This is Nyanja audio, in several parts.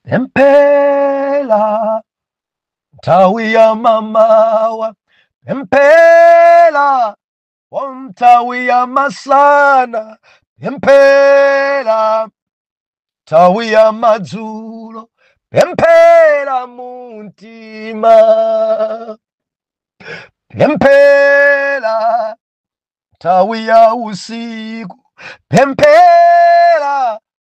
pemphera nthawi ya mamawa pemphera wa nthawi ya masana pemphera nthawi ya madzulo pemphera mumtima pemphera nthawi ya usiku pemphera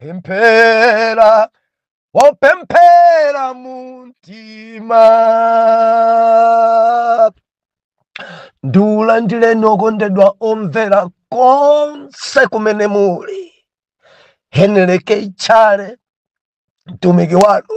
pemphera wopemphera mumtima ndiulandireni okondedwa omvera konse kumene muli Henry K Chale mtumiki wanu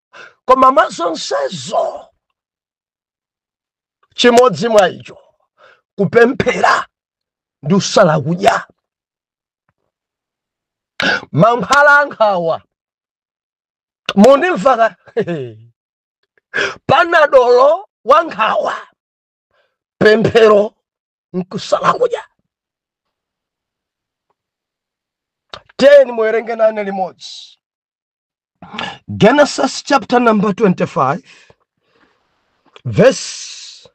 koma mwa zonsezo chimodzi mwa icho kupemphera ndi kusala kudya mankhwala ankhawa mundimva ka panadolo wa nkhawa pemphero nkusala kudya tiyeni muwerenge nane limodzi Genesis chapter number 25, verse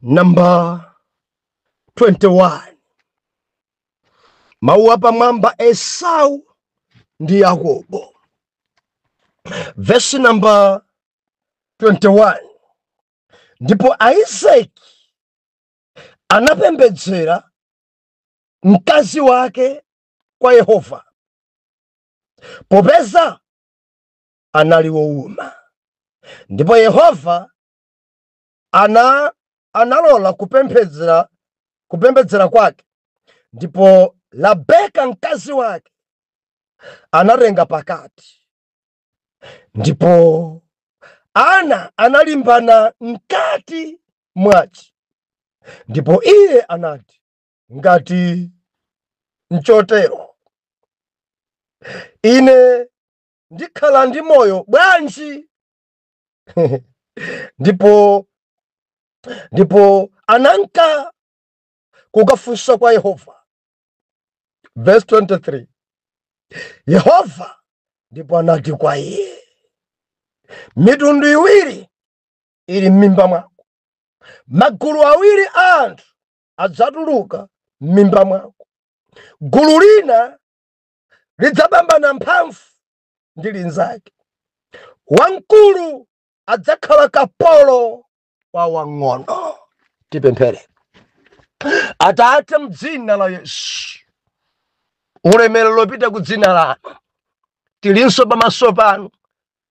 number 21. Mawu apamwamba Esau ndi Yakobo. Verse number 21. Ndipo Isaac anapembedzera mkazi wake kwa Yehova popeza anali wowuma ndipo yehova analola kupembedzera kwake ndipo labeka mkazi wake anatenga pakati ndipo ana analimbana mkati mwace ndipo iye anati Ngati nchotero, ine ndikhala ndi moyo bwanji? ndipo ananka kukafunsa kwa Yehova. Verse 23 Yehova ndipo anati kwa iye, mitundu iwiri iri m'mimba mwako, magulu awiri a anthu adzatuluka m'mimba mwako. Gulu lina lidzapambana mphamvu ndi linzake. Wamkulu adzakhala kapolo wa wang'ono. Tipemphere. Atate, m'dzina la Yesu, ulemerero ukupita ku dzina lanu, tilinso pamaso panu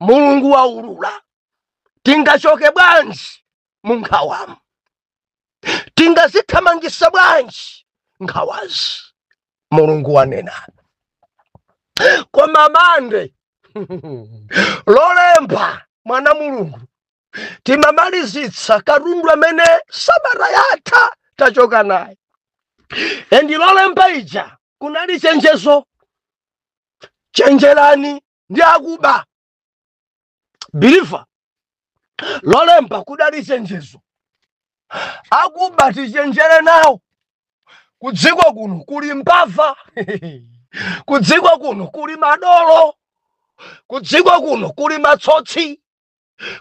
mulungu waulula tingachoke bwanji mu nkhawamu tingazithamangisa bwanji nkhawazi mulungu wanena koma mande lolemba mwana wa mulungu timamalizitsa katundu amene sabata yatha tachoka naye endi lolemba ija kunali chenjezo chenjerani ndi akuba biliva lolemba kudali chenjezo akuba tichenjere nawo kudziko kuno kuli mbava kudziko kuno kuli madolo kudziko kuno kuli matsotsi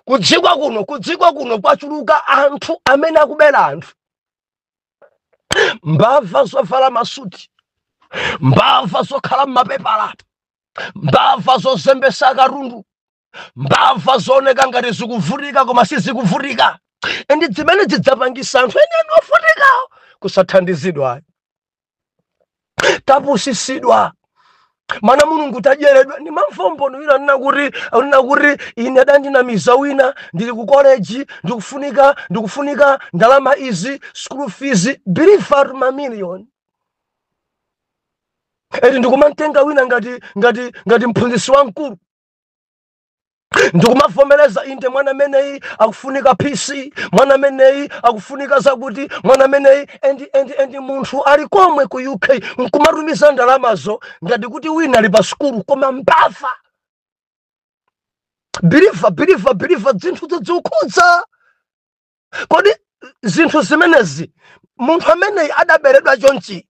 kudziko kuno kudziko kuno kwachuluka anthu amene akubera anthu mbava zovala masuti mbava zokhala m'mapepala mbava zozembesa katundu mbava zooneka ngati zikuvutika koma sizikuvutika endi zimene zidzapangisa anthu enieni ovutikawo kusathandizidwa tapusisidwa mwana wa mulungu tadyeredwa ndi mamvombono wina anena kuti anena kuti ine adandinamiza wina ndili ku college ndikufunika ndikufunika ndalama izi school fees biliva mamiliyoni eti ndikumantenga wina ngati ngati ngati mphunzitsi wamkulu ndikumavomereza inde mwana ameneyi akufunika pc mwana ameneyi akufunika zakuti mwana ameneyi endi endi endi munthu ali komwe ku uk nkumatumiza ndalamazo ngati kuti wina ali pa sukulu koma mbava biliva biliva biliva zinthu zikukhudza kodi zinthu zimenezi munthu ameneyi adaberedwa chonchi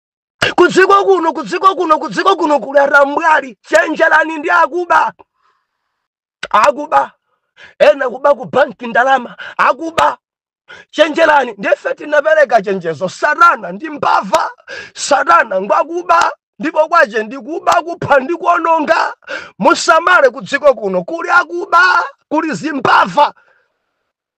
kudziko kuno kudziko kuno kudziko kuno kuli atambwali chenjerani ndi akuba akuba ena kuba ku banki ndalama akuba chenjerani ndiye ife tinapereka chenjezo satana ndi mbava satana ngwakuba ndipo kwache ndikuba kupha ndi kuononga musamale kudziko kuno kuli akuba kuli zimbava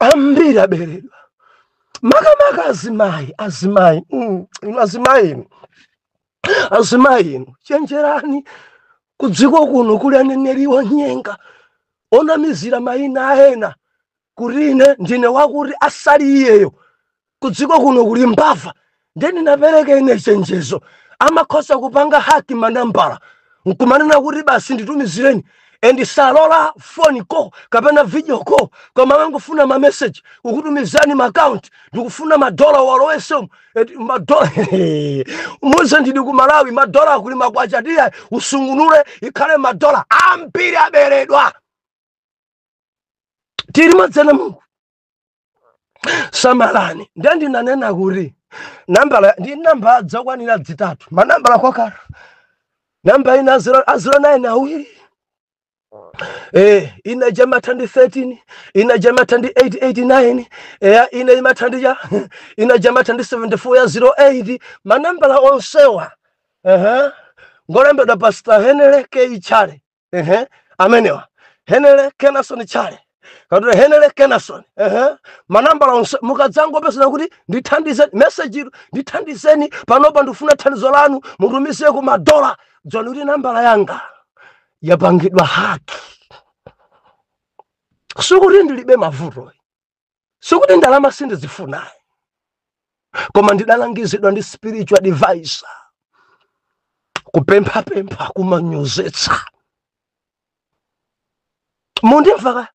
ambiri aberedwa makamaka azimayi azimayi mm, inu azimayi inu azimayi inu chenjerani kudziko kuno kuli aneneri onyenga onamizira mayina a ena kuti ine ndine wakuti asali iyeyo kudziko kuno kuli mbava ndiye ndinapereka ine chenjezo amakhoza kupanga haki manambala nkumanena kuti basi nditumizireni and salola phone call kapena video call koma amangofuna ma message kukutumizani ma account ndikufuna madola walowesemo eti madola muze ndili ku malawi madola kuli makwacha tiya usungunule ikhale madola ambiri aberedwa tili madzana mulungu samalani ndiye ndinanena kuti nambala ndi namba dzakwanira dzitatu manambala kwakhala namba ina a ziro nine awiri Eh, ina ija imatha ndi 13 ina ija imatha ndi 889 eya ina imatha ndi ya ina ija imatha ndi 74 ya 08 manambala onsewa ehe ngolembedwa pastor henry k chale ehe amenewa henry kenasoni chale katule henry kenasoni ehe manambala onse mukadzangopeza kuti ndithandizeni meseji ilo ndithandizeni panopa ndifuna thandizo lanu mutumize ku madola dziwani kuti nambala yanga yapangidwa haki sikuti ndilibe mavuto sikuti ndalama sindizifuna koma ndidalangizidwa ndi spiritual advisor kupemphapempha kumanyozetsa mundimvaka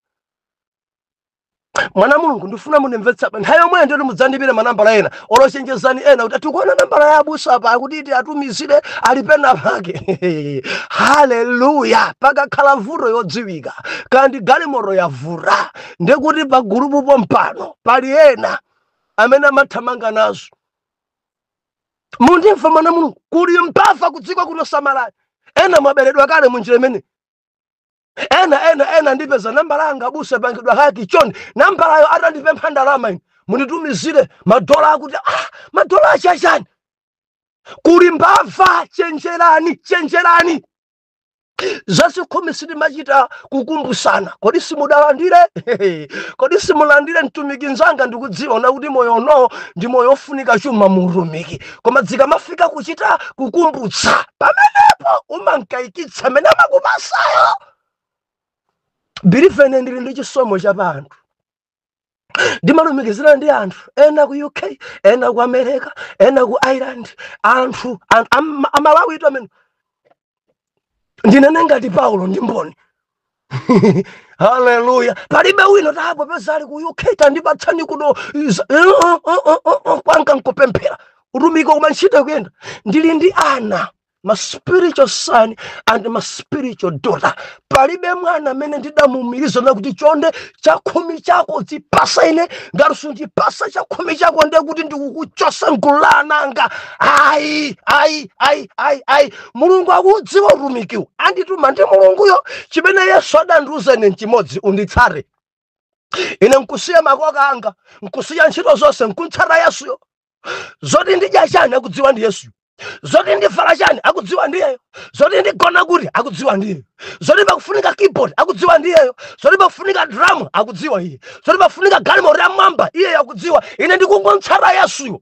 mwana wa mulungu ndifuna mundimvetse pa nthawi yomweyo ndiyoti mudzandiimbire manambala ena olo chenjezani ena kuti tikuona nambala ya abusa apa akuti tiwatumizire ali pena pake haleluya pakakhala vuto yodziwika kaya ndi galimoto yavuta ndiye kuti pa gulupu pompano pali ena amene amathamanga nazo mundimva mwana mulungu kuli mbava kudziko kuno samalani ena mwaberedwa kale munjira imene ena ena ena andipeza nambala yanga abusa yapangidwa haki chonde nambalayo atandipempha ndalama ine munditumizire madola akuti ah, madola achachani kuli mbava chenjerani chenjerani zazikhumi sitimachita kukumbutsana kodi simudalandire kodi simulandire mtumiki nzanga ndikudziona kuti moyo uno ndi moyo ofunika chuma muutumiki koma dzikamafika kuchita kukumbutsa pamenepo umankayikitsa amene amakupasayo believe ine ndili ndi chisomo cha pa anthu ndimalumikizana ndi anthu ena ku uk ena ku america ena ku ireland anthu amalawi itu amene ndinene ngati paulo ndi mboni haleluya palibe wino tapopeza ali ku uk tandipatsani kuno eh, oh, oh, oh, kwanga nkupemphera utumiki umachita kuyenda ndili ndi ana ma spiritual son and ma spiritual daughter palibe mwana amene ndidamuumiriza nakuti chonde chakhumi chako uzipasa ine ngati sundipasa chakhumi chako ndiye kuti ndikukuchosa mgulu la ananga ayi ayi ayi ayi ayi mulungu akuudziwa utumikiwu andituma ndi mulunguyo chimene yesu adandiuza ine nchimodzi unditsate ine nkusiya makoka anga nkusiya ntchito zonse nkuntsata yesuyo zoti ndidya chani akudziwa ndi yesuyo zoti ndivala chani akudziwa ndiyeyo zoti ndigona kuti akudziwa ndiyeyo zoti pakufunika keyboard akudziwa ndiyeyo zoti pakufunika drum akudziwa iye zoti pakufunika galimoto yamwamba iyeyo akudziwa ine ndikungontsata yesuyo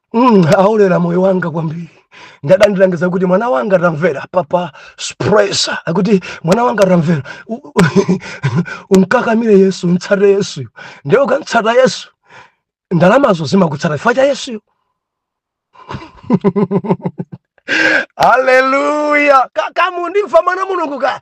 Mm, aulera moyo wanga kwambiri adandilangiza kuti mwana wanga tamvera papa spresa akuti mwana wanga tamvera umkakamire yesu umtsate yesuyo nde ukamtsata yesu ndalamazo zimakutsata chifukwa cha yesuyo haleluya kaya mukundimva mwana mulungu ka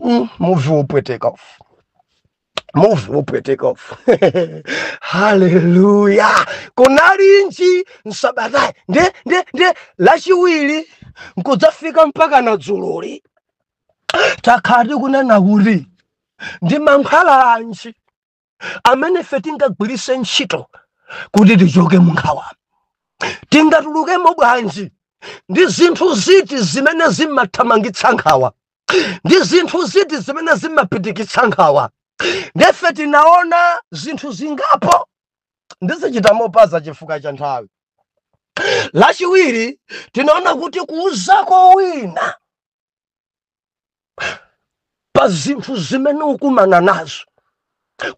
Mm, muvi wopweteka ufu muvi wopweteka ufu haleluya kunalinji msabatayi nde nde nde lachiwiri nkudzafika mpaka na dzuloli takhala tiku nena kuti ndi mankhwala anji amene ife tingagwiritse ntchito kuti tichoke mu nkhawa tingatulukemo bwanji ndi zinthu ziti zimene zimathamangitsa nkhawa ndi zinthu ziti zimene zimapitikitsa nkhawa ndife tinaona zinthu zingapo ndizichita mopanza chifukwa cha nthawi lachiwiri tinaona kuti kuuzako wina pa zinthu zimene ukumana nazo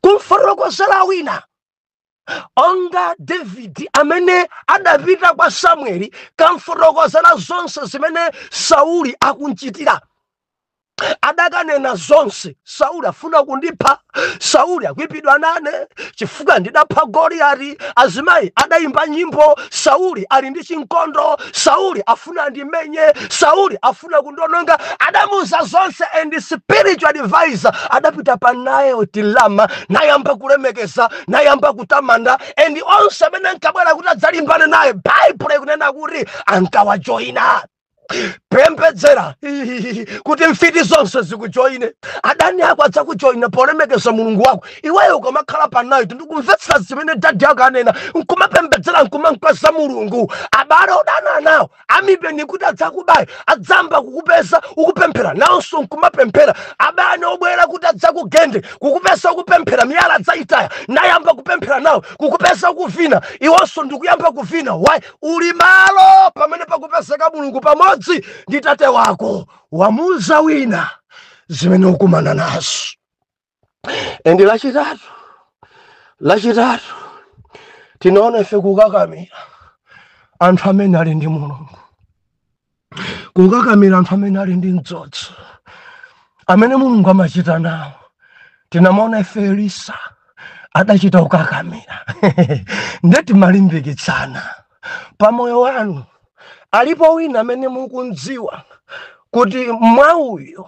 kumfotokozera wina onga davidi amene adapita kwa samueli kukamfotokozera zonse zimene sauli akunchitira adakanena zonse sauli afuna kundipha sauli akuipidwa nane chifukwa ndidapha goliyati azimayi adayimba nyimbo sauli ali ndi chinkondo sauli afuna andimenye sauli afuna kundononga adamuuza zonse and spiritual advisor adapita pa Nayoti Rama nayamba kulemekeza nayamba kutamanda and onse amene ankabwera kuti adzalimbane naye baibulo ikunena kuti ankawajoyina pembedzera kuti mfiti zonse zikujoyine adani ako adzakujoyina polemekeza mulungu wako iweyo ukamakhala panayo ndikumvetsera zimene dadi ako anena nkumapembedzera nkumankweza mulungu abale odana nawo amipeni kuti adzakubaye adzayamba kukupeza ukupemphera nawonso nkumapemphera abale obwera kuti adzakugende kukupeza ukupemphera miyala adzayitaya nayamba kupemphera nawo kukupeza ukuvina iwonso ndikuyamba kuvina why uli malo pamene pakupezeka mulungu pamodzi ndi tate wako wamuuza wina zimene ukumana nazo endi lachitatu lachitatu tinaona ife kukakamira anthu amene ali ndi mulungu kukakamira anthu amene ali ndi mdzodzo amene mulungu amachita nawo tinamaona ife elisa adachita kukakamira nde timalimbikitsana pa moyo wanu alipo wina amene mukumdziwa kuti mwa uyu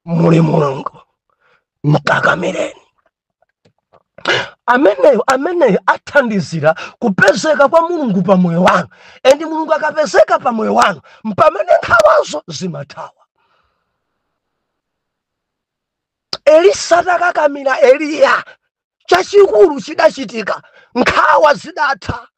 muli mulungu mkakamireni ameneyo ameneyo athandizira kupezeka kwa mulungu pa moyo wanu endi mulungu akapezeka pa moyo wanu mpamene nkhawazo zimathawa elisa atakakamira eliya chachikulu chidachitika nkhawa zidatha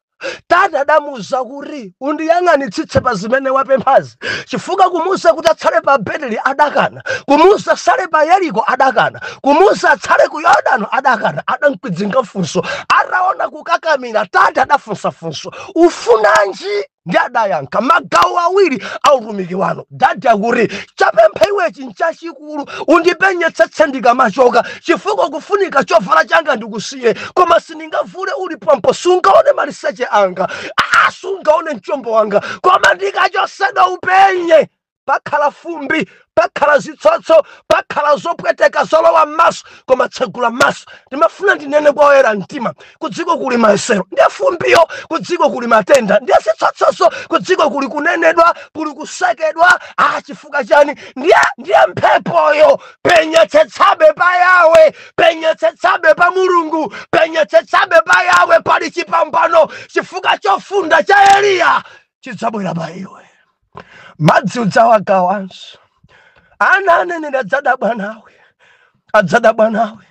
tate adamuuza kuti undiyang'anitsitse pa zimene wapemphazi chifukwa kumuuza kuti atsale pa beteli adakana kumuuza atsale pa yeriko adakana kumuuza atsale ku yordano adakana adamkwidzinga funso ataona kukakamira tate adafunsa funso ufunanji ndi adayankha magawo awiri a utumiki wanu adati kuti chapempha iwechi nchachikulu undipenyetsetse ndikamachoka chifukwa kufunika chovala changa ndikusiye koma sindingavule uli pompo sungaone maliseche anga aa sungaone mchombo wanga koma ndikachotsedwa upenye pakhala fumbi pakhala zitsotso pakhala zopweteka zolowa m'maso koma tsegula maso ndimafuna ndinene kwa oyera mtima kudziko kuli mayesero ndiye fumbiyo kudziko kuli matenda ndiye zitsotsozo kudziko kuli kunenedwa kuli kusekedwa ah chifukwa chani ndiye ndiye mphepoyo penyetsetsabe pa yawe penyetsetsabe pa mulungu penyetsetsabe pa yawe pali chipambano chifukwa chofunda cha eliya chidzabwera pa iwe madzi udzawagawanso ana aneneri adzadabwa nawe adzadabwa nawe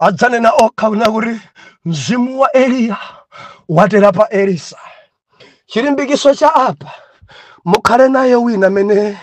adzanena okha kunena kuti mzimu wa eliya watera pa elisa chilimbikiso cha apa mukhale naye wina amene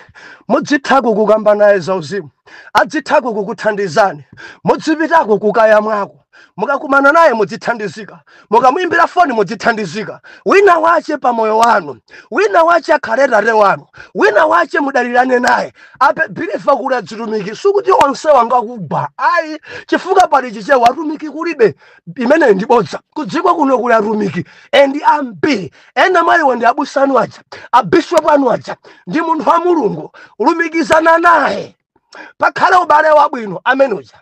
mudzithako kukamba naye zauzimu adzithako kukuthandizani mudzipitako kukayamwako mukakumana naye mudzithandizika mukamuimbira foni mudzithandizika wina wache pa moyo wanu wina wache akhale tate wanu wina wache mudalirane naye apa biliva kuti azitumiki sikuti onse ngakugwa ayi chifukwa pali chichewa atumiki kulibe imeneyo ndi bodza kudziko kuno kuli atumiki endi ambiri ena mwa iwo ndi abusa anu aja abishopu anu aja ndi munthu wa mulungu lumikizana naye pakhale ubale wabwino amene uja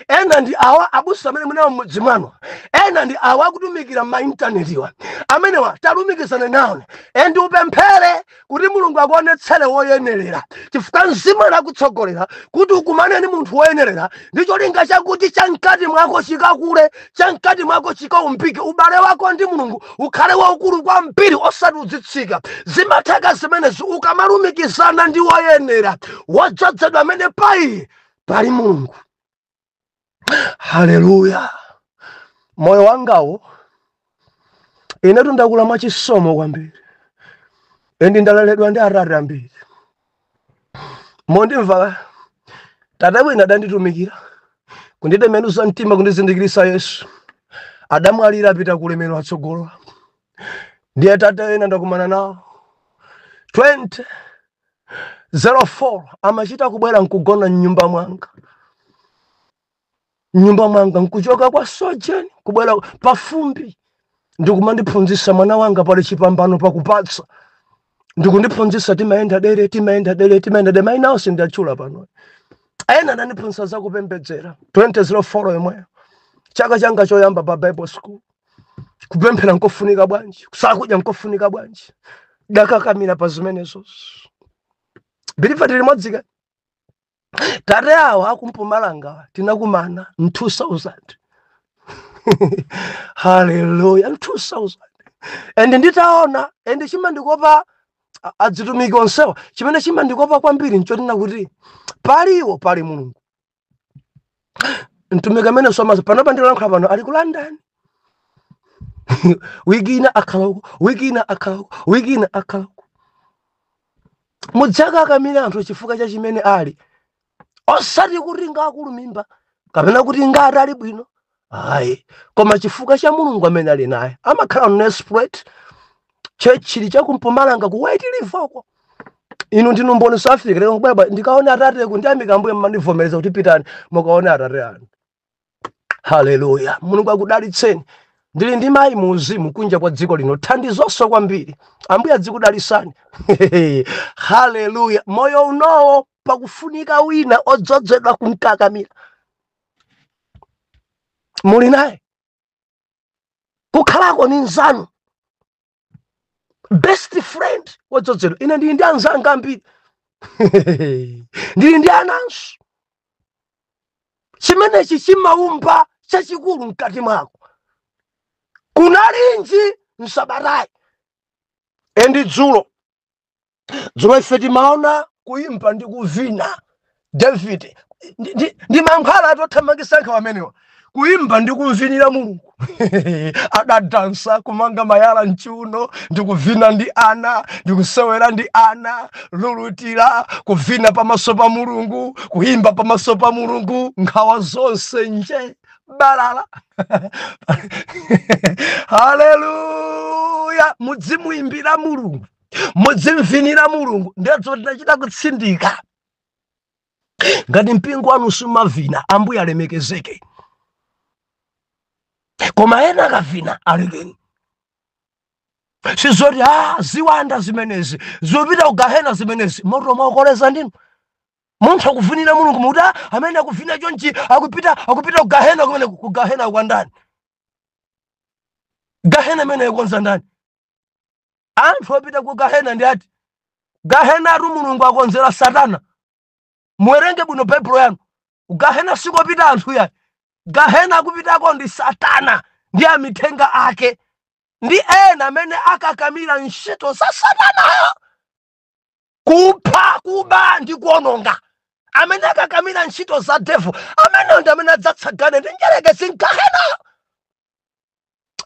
ena ndi awa abusa amene mu nawo m'mudzi mwanu ena ndi awa akutumikira m'maintanetiwa amenewa talumikizanani nawo endi upemphere kuti mulungu akuonetsere woyenerera chifukwa mzimu ukutsogolera kuti ukumane ndi munthu woyenerera ndi cholinga chakuti chamkati mwako chikakule chamkati mwako chikaumbike ubale wako ndi mulungu ukhale waukulu kwambiri osati udzitsika zimatheka zimenezi ukamalumikizana ndi woyenera wodzozedwa amene paiye pali mulungu haleluya moyo wangawo inetu ndakula mwachisomo kwambiri endi ndaleredwa ndi atate ambiri mondimva tate wina adanditumikira kunditembenuza mtima kundizindikiritsa yesu adamwalira apita ku ulemerero atsogolo ndiye tate ena ndakumana nawo 20 04 amachita kubwera nkugona mnyumba mwanga mnyumba mwanga nkuchoka kwa sojeni kubwera pafumbi ndikumandiphunzitsa mwana wanga pali chipambano pakupatsa ndikundiphunzitsa timayenda dere timayenda dere timayenda dere maina onse sindiwatchula pano ena anandiphunzitsa zakupembedzera 2004 yomweyo chaka changa choyamba pa bible school kupemphera nkofunika bwanji kusala kudya nkofunika bwanji ndakakamira pa zimenezozo biliva tili limodzi kodi tate awa aku mpumalanga tinakumana m 2000 haleluya m 2000 and nditaona and chimandikopa a- azitumiki onsewa chimene chimandikopa kwambiri nchotina kuti paliwo pali mulungu mtumiki amene somaso panopa ndilankhula pano ali ku london wiki ina akhala uko wiki ina akhala uko wiki ina akhala uko mudzikakamira anthu chifukwa cha chimene ali osati kuti ngakulu mimba kapena kuti ngati ali bwino ayi koma chifukwa cha mulungu amene ali naye amakhala nelspruit tchetchi ili cha ku mpumalanga ku white river uko inu ndinu mboni south africa lero kubwera ndikaone atate ku ndiyamika mbuye mmandivomereza kuti pitani mukaone atate anu haleluya mulungu akudalitseni ndili ndi mayi mu uzimu kunja kwa dziko lino thandizonso kwambiri ambuye adzikudalitsani haleluya moyo unowo pakufunika wina odzozedwa kumkakamira muli naye kukhalako ni nzanu best friend wodzodzedwa ine ndili ndi anzanga ambiri ndili ndi ananso chimenechi chimaumba chachikulu mkati mwako kunalinji msabatayi and dzulo dzulo ife timaona kuimba ndi kuvina david ndi- ndi- ndi mankhwala othamangitsa nkhawa amenewa kuimba ndi kumuvinira mulungu adadansa kumanga malaya mchiuno ndi kuvina ndi ana ndi kusewera ndi ana kululutira kuvina pamaso pa mulungu kuimba pamaso pa mulungu nkhawa zonse njee balala haleluya mudzimuimbira mulungu mudzimuvinira mulungu ndizo tinachita kutsindika ngati mpingo wanu sumavina ambuye alemekezeke koma ena akavina alekeni sizoti a ah, ziwanda zimenezi zipita kugahena zimenezi moto mwakoleza ndinu munthu akuvinira mulungu mukuti "Ah, amene akuvinira chonchi akupita akupita ku gahena kumene ku gahena kwa ndani gahena imene yakonza ndani anthu opita ku gahena ndi ati gahenatu mulungu adakonzera satana muwerenge bwino baibulo yanu gahena sikopita anthu ayi gahena akupitako ndi satana ndi amithenga ake ndi ena amene akakamira ntchito za satanayo kupha kuba ndi kuononga amene akakamira ntchito za devil ameneyo ndi amene adzatsagane ndi mdyerekezi m'gahena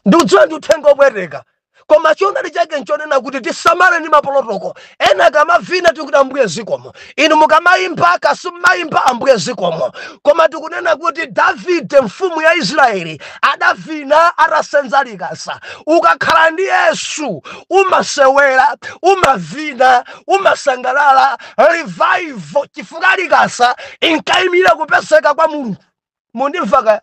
ndikudziwa ndi uthenga opweteka koma choonadi chake nchonena kuti tisamale ndi maprotocol ena akamavina tikuti ambuye zikomo inu mukamayimba kapena simuyimba ambuye zikomo koma tikunena kuti davide mfumu ya israeli adavina atasenza likasa ukakhala ndi yesu umasewera umavina umasangalala revival chifukwa likasa inkayimira kupezeka kwa mulungu mundimva kaya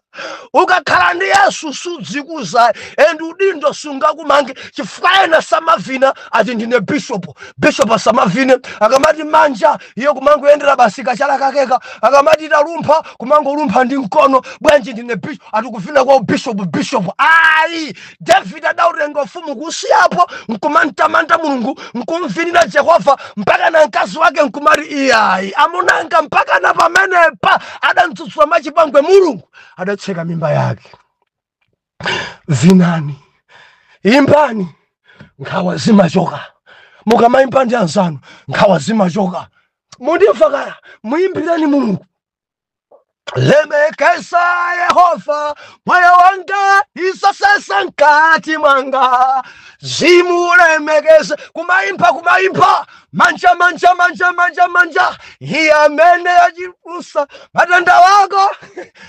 ukakhala ndi yesu sudzikweza and udindo sungakumange chifukwa ena samavina ati ndine bishopu bishopu asamavine akamati manja iye kumangowombera basi kachala kakeka akamati talumpha kumangolumpha ndi mkono bwanji ndine bishop ati kuvina kwa ubishopu bishopu ayi david adautenga ufumu kusiyapo nkumamtamanda mulungu nkumvinira jehova mpakana mkazi wake nkumati iyayi amunanga mpakana pamenepa adamtsutsa mwachipongwe mulungu adatseka mimba yake vinani imbani nkhawa zimachoka mukamayimba ndi anzanu nkhawa zimachoka mundimva kaya muyimbireni mulungu lemekeza yehova moyo wanga ndi zonse za mkati mwanga zimulemekeze kumayimba kumayimba manja manja manja manja manja iye amene achiza matenda ako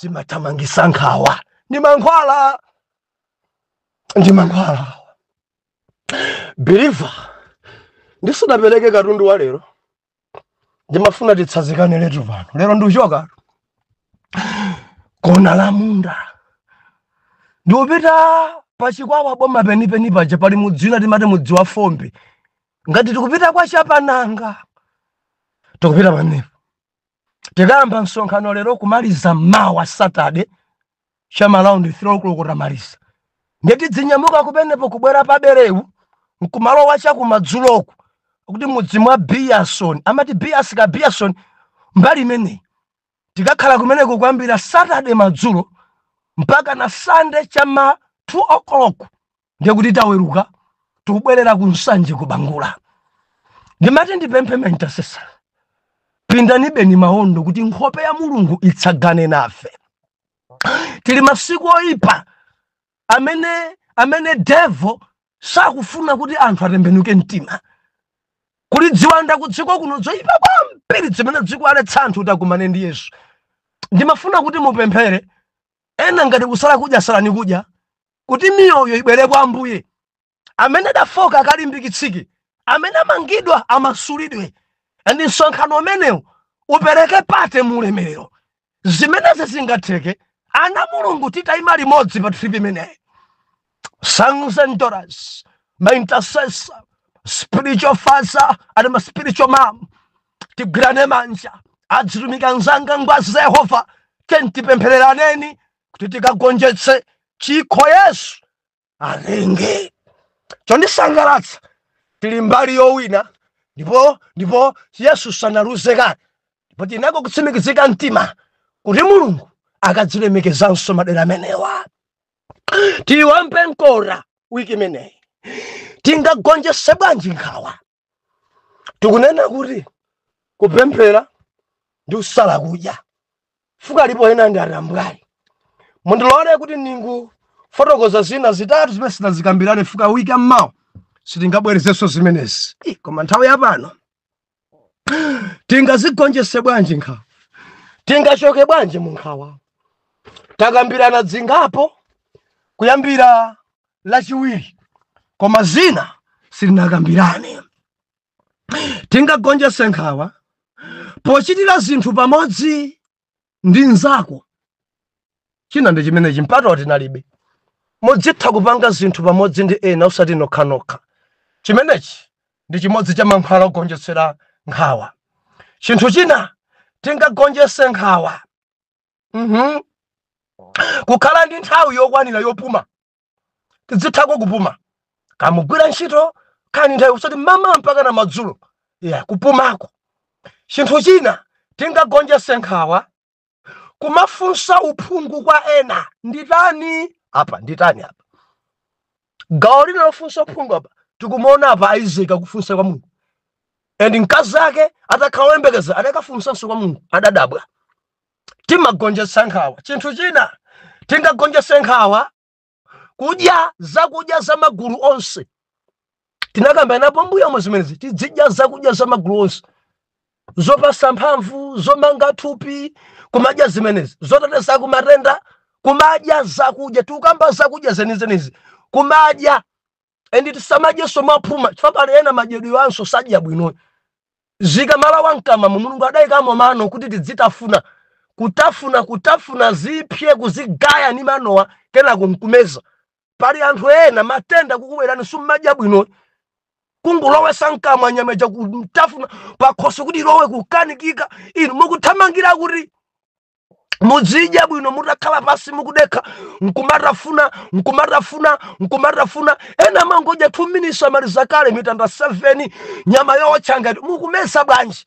zimathamangisa nkhawa ndi mankhwala ndi mankhwala believer ndisudapereke katundu wa lero ndimafuna titsazikane letu pano lero ndikuchoka kona la munda ndiupita pachikwawa boma penipeni paja pali mudzi wina timati mudzi wa fombe ngati tikupita kwa chapananga tikupita pamenepo tikayamba msonkhano lero kumaliza mmawa saturday cha ma round 3 o'clock tamaliza ndiye tidzinyamuka kumenepo kubwera paberewu nkumalowa chakumadzuloko kuti mudzi mwa biason amati bias ka biason mbali imeneyi tikakhala kumeneko kuyambira saturday madzulo mpaka na sunday chama 2 o'clock ndiye kuti taweruka tikubwerera ku nsanje ku bangula ndimati ndipemphe ma intercessor pindanibeni maondo kuti nkhope ya mulungu itsagane nafe tili masiku oyipa amene devil sakufuna kuti anthu atembenuke mtima kuli dziwanda kudziko kuno zoyipa kwambiri zimene zikuwaletsa anthu kuti akumane ndi yesu ndimafuna kuti mupemphere ena ngati kusala kudya salani kudya kuti miyoyo ibwere kwa ambuye amene adafoka akalimbikitsike amene amangidwa amasulidwe and msonkhano umenewu upereke atate mu ulemerero zimenezi zingatheke ana a mulungu titayima limodzi pa trip imeneyi sons and daughters my intercessors spiritual father and my spiritual mom tigwirane manja adzitumika anzanga ngwazi za yehova tiyeni tipemphereraneni kuti tikagonjetse chikho yesu atenge chondisangalatsa tili mbali yowina ndipo ndipo yesu sanaluze kale ndipo tinako kutsimikizika mtima kuti mulungu akadzilemekezanso madera amenewa tiwombe mkota wiki imeneyi tingagonjetse bwanji nkhawa tikunena kuti kupemphera ndi kusala kudya chifukwa alipo ena ndi atambwali mundilole kuti ndingofotokoza zina zitatu zimene sitinazikambirane chifukwa wiki ya mmawa sitingabwerezenso zimenezi Ih, koma nthawi yapano tingazigonjese bwanji nkhawa tingachoke bwanji mu nkhawa takambirana zingapo kuyambira lachiwiri koma zina sitinakambirane tingagonjetse nkhawa pochitira zinthu pamodzi ndi nzako china ndi chimenechi mpatawu tinalibe muzitha kupanga zinthu pamodzi ndi ena osati nokhanokha chimenechi ndi chimodzi cha mankhwala ogonjetsera nkhawa chinthu china tingagonjetse nkhawa Mhm. kukhala ndi nthawi yokwanira yopuma tidzithako kupuma kamugwira ntchito khalani ndi nthawi osati mmawa mpaka na madzulo ya kupumako chinthu china tingagonjese nkhawa kumafunsa uphungu kwa ena nditani apa nditani apa gawo lina lofunsa uphungu apa tikumuona apa isaac akufunsa kwa mulungu and mkazi ake atakhala woyembekeza adakafunsanso kwa mulungu adadabwa timagonjetsa nkhawa chinthu china tingagonjetse nkhawa kudya zakudya za magulu onse tinakambiranapo mbuyomu zimenezi tidzidya zakudya za magulu onse zopatsa mphamvu, zomanga thupi, kumadya zimenezi, zoteteza ku matenda, kumadya zakudya, tikukamba zakudya zenizenizi, kumadya and tisamadyenso mwaphuma chifukwa pali ena madyedwe anso sadya bwino zikamalowa mkamwamo mulungu adayikamo mano kuti tidzitafuna kutafuna kutafuna zipse kuzigaya ni manowa kenako nkumeza pali anthu ena matenda kukubwerani summadya bwino kungolowesa mkamwa nyama ija kutafuna pakhosi kuti ilowe kukanikika inu mukuthamangira kuti muzidya bwino mutakhala pansi mukudekha nkumatafuna nkumatafuna nkumatafuna ena mangodya 2 minutes amaliza kale mitanda 7 nyama yowotcha ngati mukumeza bwanji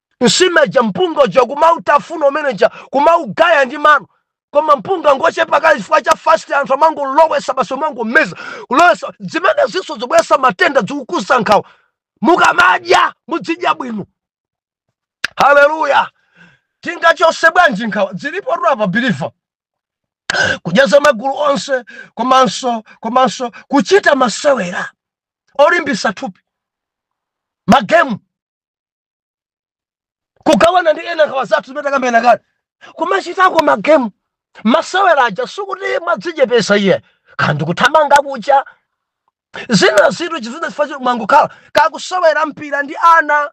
nsima ija mpunga uja kumautafuna umene uja kumaugaya ndi mano koma mpunga ngochepa kale chifukwa cha fast anthu amangolowesa basi umangomeza kulowesa zimenezinso zikubwesa matenda zikukuza nkhawa mukamadya mudzidya bwino haleluya tingachose bwanji nkhawa zilipotu apa biliva kudya za magulu onse komanso komanso kuchita masewera olimbisa thupi magemu kugawana ndi ena nkhawa zathu zimene takambirana kale kumachitako magemu masewera aja sikuti mwadzichepesa iye kapena kuthamanga kuchita zina zinthu chifukwa choti mwangokhala kukasewera mpira ndi ana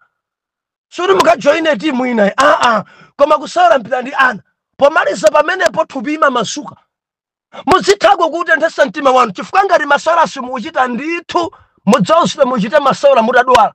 sikuti mukajoine timu ina ayi aa koma kusewera mpira ndi ana pomaliza pamenepo thupi limamasuka muzithako kutenthesa mtima wanu chifukwa ngati masewera simukuchita ndithu mudzauzidwa muchite masewera mutadwala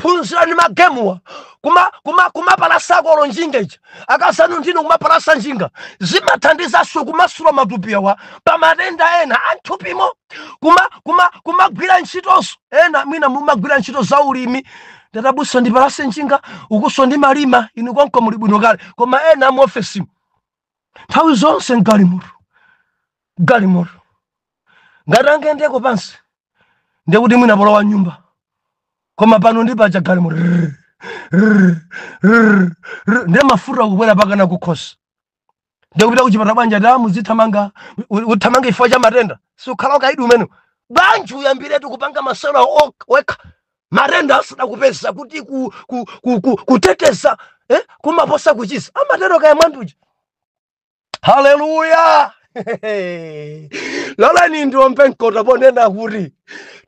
phunzirani magemuwa kuma kuma kumapalasako njinga ija akasanu ndinu kumapalasa njinga zimathandizanso kumasula matupi awa pa matenda ena a m'thupimo kuma kuma kumagwira ntchitonso ena mwina mumagwira ntchito za ulimi ndiye abusa ndipalase njinga ukunso ndimalima inu konko muli bwino kale koma ena mu ofesimu nthawi zonse mgalimoto galimoto ngati angayendeko pansi ndiye kuti mwina polowa nyumba koma pano ndi paja galimoto Rrrr, rrrr, rrrr, rrrr. ndiye mafuta kubwera mpakana kukhosi ndiye kupita kuchipatala bwana tamuzithamanga uthamanga chifukwa cha matenda sukhala ukaidi umene bwanji uyambiretu kupanga masewera wekha matenda asadakupeza kuti kuteteza kumaposa kuchiza amatero kaya mwanduja haleluya lolani ndiombe mkota ponena kuti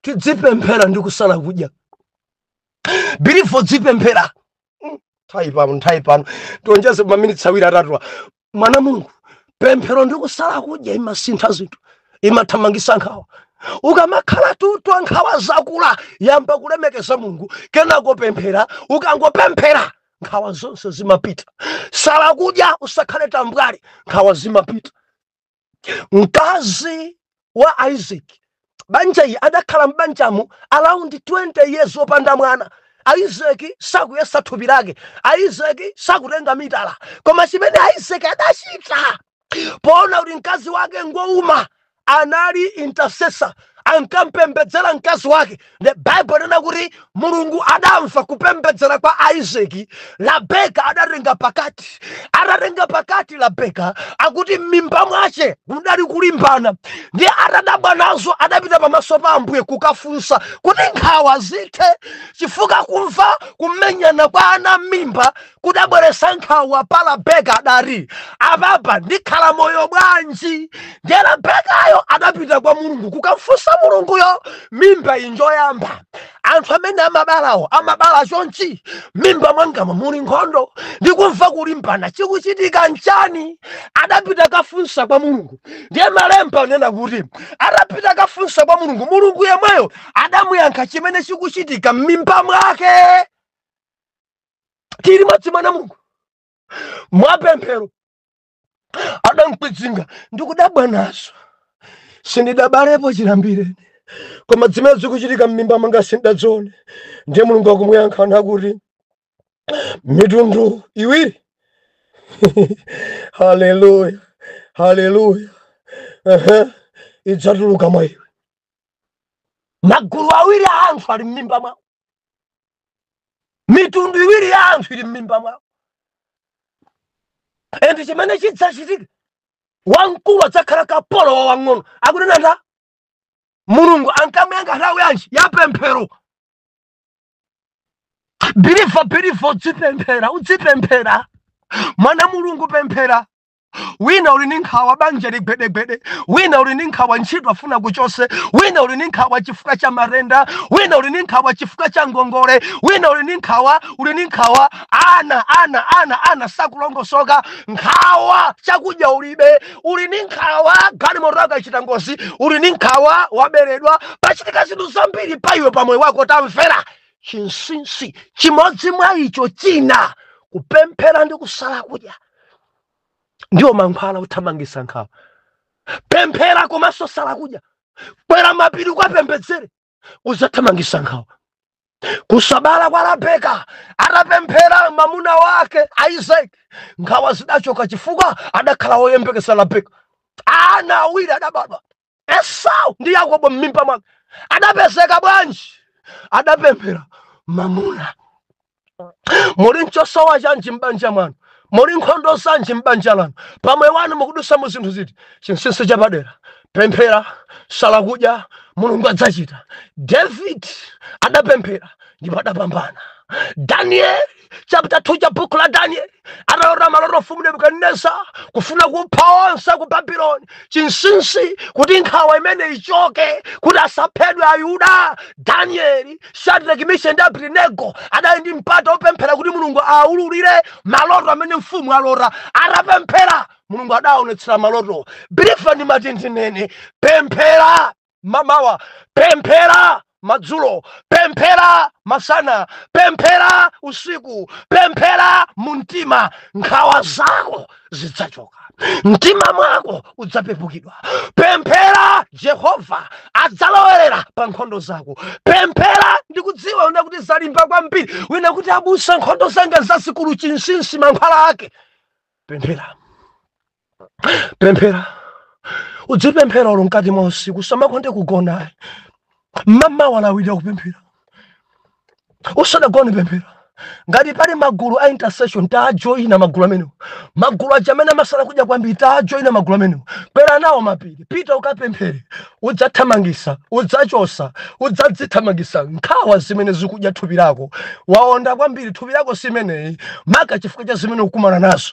tidzipemphera ndi kusala kudya bilivo dzipemphera nthawi pano nthawi pano ndionjeze maminitsi awiri atatuwa mwana mulungu pemphero ndi kusala kudya imasintha zinthu imathamangisa nkhawa ukamakhala utaona nkhawa zakula yamba kulemekeza mulungu kenako pemphera ukangopemphera nkhawa zonse zimapita sala kudya usakhale tambwali nkhawa zimapita mkazi wa isaac banja ili adakhala m'banjamu around 20 years opanda mwana isaac sakuyesa thupi lake isaac sakutenga mitala koma chimene isaac adachita poona kuti mkazi wake ngwouma anali intercessor ankampembedzera mkazi wake the bible ikunena kuti mulungu adamva kupembedzera kwa isaac labeka adatenga pakati atatenga pakati labeka akuti m'mimba mwace mudali kulimbana ndiye atadabwa nazo adapita pamaso pa ambuye kukafunsa kuti nkhawa zithe chifukwa kumva kumenyana kwa ana m'mimba kudabweresa nkhawa pa rabeka adati apapa ndikhala moyo bwanji ndiye rabekayo adapita kwa mulungu kukamfunsa mulunguyo mimba injoyamba anthu amene amabalawo amabala chonchi mimba mwangamo muli nkhondo ndikumva kulimbana chikuchitika nchani adapita kafunsa kwa mulungu ndiye malemba anena kuti atapita kafunsa kwa mulungu mulungu yemweyo adamuyankha chimene chikuchitika m'mimba mwake tiri madzi mwana mulungu mwapemphero adamkwidzinga ndikudabwa nazo sindidabalepo chiyambireni koma zimene zikuchitika m'mimba mwanga sindazione ndiye mulungu akumuyankha nati mitundu iwiri haleluya haleluya Ehe, idzatuluka mwa iwe magulu awiri a anthu ali m'mimba mwako mitundu iwiri ya anthu ili m'mimba mwako and chimene chidzachitika wamkulu adzakhala kapolo wa wang'ono akunena ndi mulungu ankamuyankha nthawi yanji ya pemphero believer believer udzipemphera udzipemphera mwana mulungu pemphera wina uli ndi nkhawa banja ligwedegwede wina uli ndi nkhawa ntchito afuna kuchose wina uli ndi nkhawa chifukwa cha matenda wina uli ndi nkhawa chifukwa cha ngongole wina uli ndi nkhawa uli ndi nkhawa ana ana ana ana sakulongosoka nkhawa chakudya ulibe uli ndi nkhawa galimoto yachita ngozi uli ndi nkhawa waberedwa pachitika zinthu zambiri pa iwe pa moyo wako tamvera chinsinsi chimodzi mwa icho china kupemphera ndi kusala kudya ndiwo mankhwala othamangisa nkhawa pemphera komanso sala kudya kwera mapiri ukapembedzere uzathamangisa nkhawa kusabala kwa rabeka atapemphera mamuna wake isaac nkhawa zidachoka chifukwa adakhala woyembekeza rabeka ana awiri adabadwa esau ndi yakobo m'mimba mwake adapezeka bwanji adapemphera mamuna muli nchosowa chanji m'banja mwanu muli nkhondo zanji m'banja lanu pamoyo wanu mukudusa mu zinthu ziti chinsinsi chapadera pemphera sala kudya mulungu adzachita david adapemphera ndipo adapambana danieli chapter 2 cha buku la danieli atalota maloto mfumu nebukadineza kufuna kupha onse ku babuloni chinsinsi kuti nkhawa imene ichoke kuti asaphedwe ayuda danieli shadraki misheki ndi abedinego adali ndi mpata wopemphera kuti mulungu awaululire maloto amene mfumu alota atapemphera mulungu adaonetsera maloto believer ndimati ndinene pemphera mamawa pemphera madzulo pemphera masana pemphera usiku pemphera mu mtima nkhawa zako zidzachoka mtima mwako udzapepukidwa pemphera jehova adzalowerera pa nkhondo zako pemphera ndikudziwa wina kuti zalimba kwambiri wina kuti abusa nkhondo zanga ndi zazikulu chinsinsi mankhwala ake pemphera pemphera udzipemphera olo mkati mwa usiku usamakonde kugona m'mawa lawira kupemphera usadagone pemphera ngati pali magulu a intercession tajoyina magulu amenewo magulu aja amene amasala kudya kwambiri tajoyina magulu amenewo kwera nawo mapiri pita ukapemphere udzathamangisa udzachosa udzadzithamangisa nkhawa zimene zikudya thupi lako waonda kwambiri thupi lako si imeneyi maka chifukwa cha zimene ukumana nazo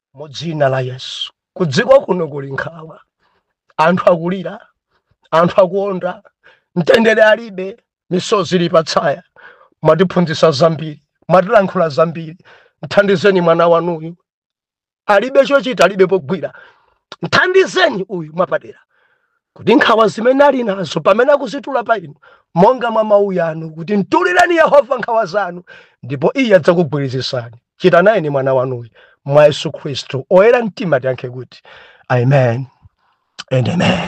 mu dzina la yesu kudziko kuno kuli nkhawa anthu akulira anthu akuonda mtendere alibe misozi ili patsaya mwatiphunzitsa zambiri mwatilankhula zambiri mthandizeni mwana wanuyu alibe chochita alibe pogwira mthandizeni uyu mwapadera kuti nkhawa zimene ali nazo pamene akuzitula pa inu monga mwa mawu yanu kuti mtulireni yehova nkhawa zanu ndipo iye adzakugwirizisani chitanayeni mwana wanuyu mwa yesu khristu oyera mtima tiyankhe kuti amen and amen